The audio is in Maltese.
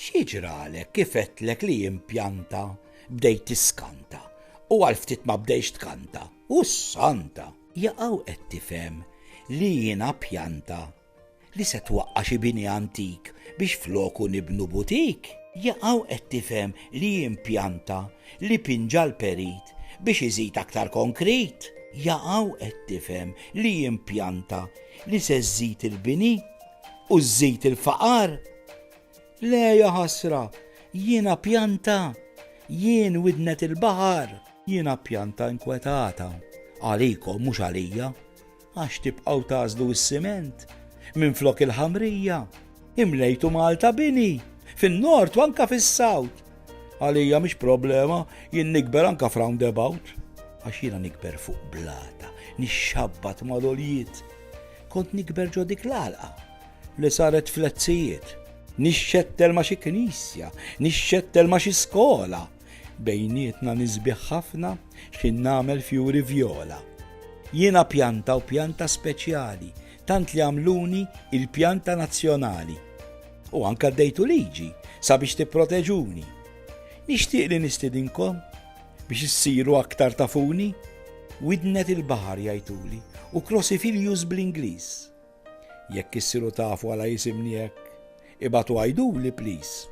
X'jiġralek kif għedtlek li jimpjanta bdejt tiskanta u għal ftit ma bdejx tkanta u s-santa. Jaqaw qed tifhem li jiena pjanta li se twaqqa xi bini antik biex floku nibnu butik. Jaqaw qed tifhem li jimpjanta Li pinġa l-perit biex iżid aktar konkrit. Jaqaw qed tifhem li jimpjanta li se żżid il-bini u żżid il-faqar? Le jaħasra, jien appjanta, jien widnet il-baħar. Jien appjanta inkwetata, għalikom mhux għalija. Għax tibqgħu tagħżlu s-siment minflok il-ħamrija, imlejtu Malta bini, fin-nord u anka fis-sawt. Għalija mhix problema jien nikber anka f'roundabout, għax jiena nikber fuq blata, nixxabbat mal-oljiet. Kont nikber ġo dik l-alqa li saret flezzijiet. Nixxettel ma xi knisja, nixxettel ma xi skola, Bejnietna nisbiħ ħafna x'in nagħmel fjuri vjola. Jiena pjanta u pjanta speċjali, tant li għamluni il-pjanta nazzjonali. U anka dejtu liġi sabiex tipproteġuni. Nixtieq li nistidinkom biex issiru aktar tafuni, widnet il-baħar jajtuli u Crosifilius bl-Ingliż. Jekk issiru tafu għala jisimni hekk, ibatu għajduli please.